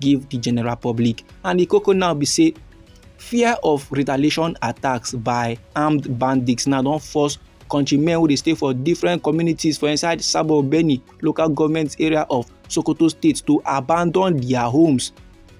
give di general public and di koko now be say fear of retaliation attacks by armed bandits now don force countrymen wey dey stay for different communities for inside sabo beni local government area of sokoto state to abandon dia homes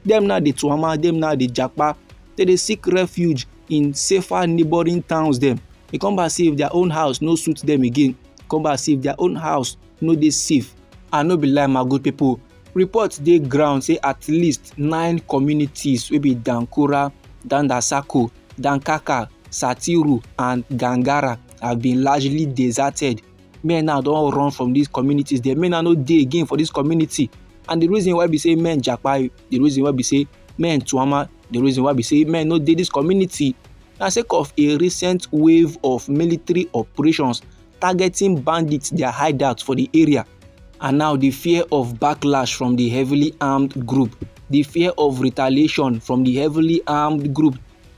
dem now dey tuama dem now dey japa dem dey seek refuge in safer neighbouring towns dem e come back say if their own house no suit them again come back say if their own house no dey safe i no be lie my good people Reports dey ground say at least nine communities wey be Dankura, Dandasako, Dankaka, Satiru and Gangara have been largely deserted. Men now don run from these communities. The men now no dey again for this community. And the reason why be say men japa, the reason why be say men tuama, the reason why be say men no dey this community na sake of a recent wave of military operations targeting bandits dia hideouts for di area and now di fear of backlash from di heavily armed group di fear of retaliation from di heavily armed group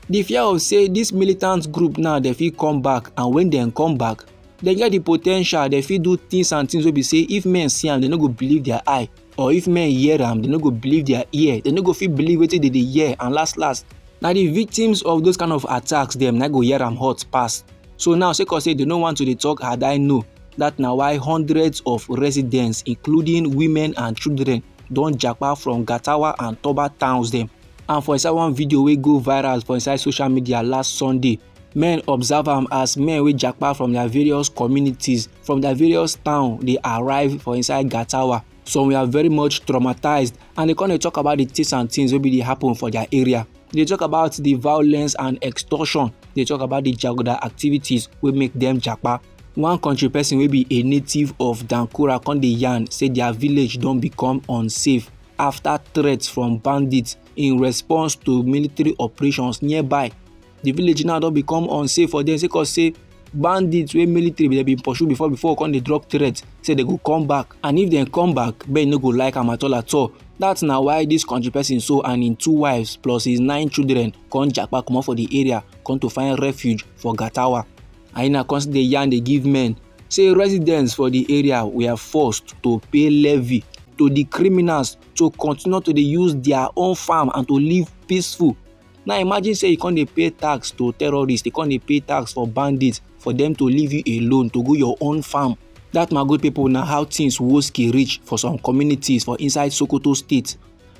di fear of say dis militant group now dem fit come back and wen dem come back dem get di po ten tial dem fit do tins and tins wey be say if men see am dem no go believe dia eye. or if men hear am dem no go believe their ear dem no go fit believe wetin dem dey hear and last last na the victims of those kind of attacks dem na go hear am hot pass so now sake of say dem no want to dey talk had i know that na why hundreds of residents including women and children don japa from gatawa and toba towns dem and for inside one video wey go viral for inside social media last sunday men observe am as men wey japa from their various communities from their various town dey arrive for inside gatawa some were very much traumatized and they come dey talk about the things and things wey be dey happen for their area they talk about the violence and extortion they talk about the jaguda activities wey make them japa one country person wey be a native of dankura come dey yarn say their village don become unsafe after threats from bandits in response to military operations nearby the village now don become unsafe for them sake of say bandits wey military dey bin pursue before before come dey drop threat say they go come back and if dem come back ben no go like am at all at all that na why this country person so and im two wives plus his nine children come japa comot for the area come to find refuge for gatawa aina come still dey yarn dey give men say residents for the area were forced to pay levy to the criminals to continue to dey use their own farm and to live peaceful now imagine say you come dey pay tax to terrorists you come dey pay tax for bandits for them to leave you alone to go your own farm that my good people na how things woski reach for some communities for inside sokoto state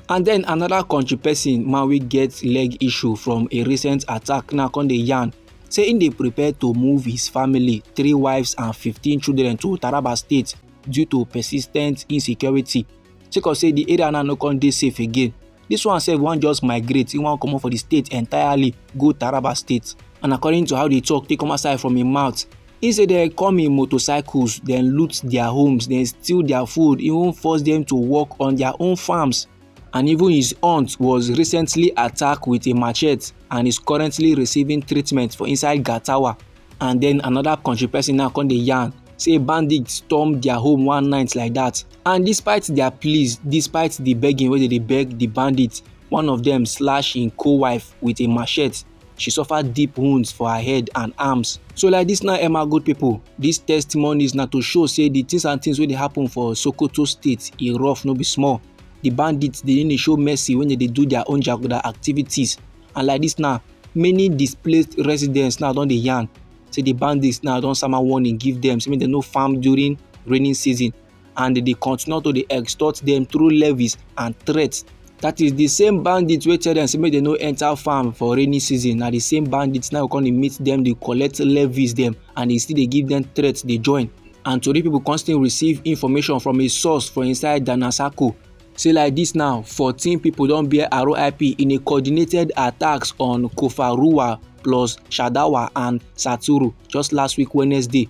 and then another country person man wey get leg issue from a recent attack now come dey yarn say im dey prepare to move his family three wives and fifteen children to taraba state due to persistent insecurity sake of say di area now no come dey safe again This one sef wan just migrate, he wan comot for the state entirely go Taraba state. And according to how the talk take come outside from him mouth, he say dem come in motorcycles, dem loot their homes, dem steal their food, even force them to work on their own farms. And even his aunt was recently attacked with a machete and is currently receiving treatment for inside Gatawa. and then another country person now come dey yarn say bandits storm their home one night like that and despite their pleas despite the begging wey they dey beg the bandits one of them slash im co-wife with a machete she suffer deep wounds for her head and arms so like this now emma good people these testimonies na to show say the things and things wey dey happen for sokoto state e rough no be small the bandits dey really show mercy when they dey do their own jaguda activities and like dis now many displaced residents now don dey yarn say di bandits now don sama warning give dem say make dem no farm during rainy season and dem dey continue to dey extort dem through levies and threats that is the same bandits wey tell dem say make dem no enter farm for rainy season na the same bandits now come dey meet dem dey collect levies dem and e still dey give dem threats dey join and tori pipo come still receive information from a source for inside danasako Say like dis now, fourteen pipo don bear RIP in a coordinated attacks on Kofaruwa plus Shadawa and Saturu just last week Wednesday.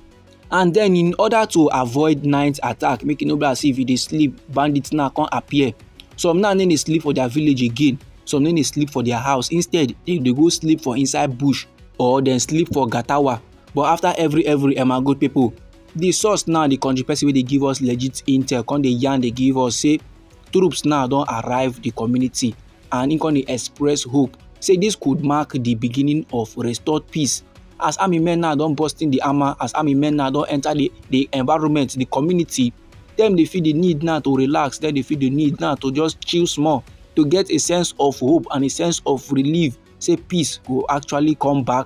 And then in order to avoid night attack, make e no be as if you dey sleep, bandits now come appear. Some now no dey sleep for their village again, some no dey sleep for their house. Instead, dem dey go sleep for inside bush or dem sleep for gatawa. But after every every Emago pipo the source now the country person wey dey give us legit intel come dey yarn dey give us say troops now don arrive the community and im come dey express hope say this could mark the beginning of restored peace as army men now don burst in the armor as army men now don enter the the environment the community dem dey feel the need now to relax dem dey feel the need now to just chill small to get a sense of hope and a sense of relief say peace go actually come back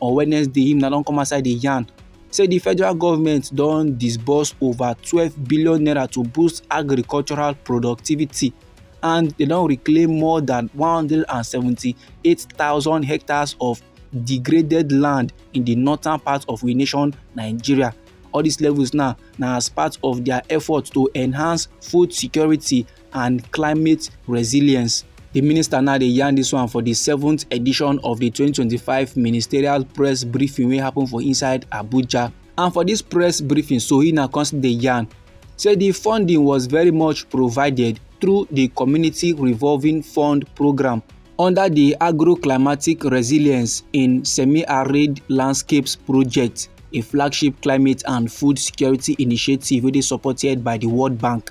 on wednesday him na don come outside dey yarn say di federal government don disburse over twelve billion naira to boost agricultural productivity and dem don reclaim more than one hundred and seventy-eight thousand hectares of degraded land in di northern part of we nation nigeria all dis levels now na as part of dia effort to enhance food security and climate resilience. The minister now dey yarn this one for the seventh edition of the 2025 ministerial press briefing wey happen for inside Abuja. And for this press briefing, so he now come dey yarn say the funding was very much provided through the community revolving fund program under the agro-climatic resilience in semi-arid landscapes project, a flagship climate and food security initiative wey dey supported by the World Bank.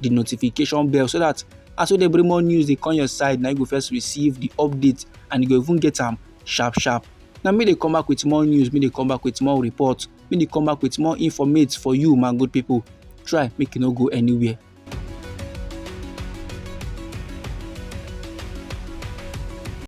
the notification bell so that as we dey bring more news dey come your side na you go first receive the update and you go even get am sharp sharp na me dey come back with more news me dey come back with more report me dey come back with more informate for you my good people try make you no go anywhere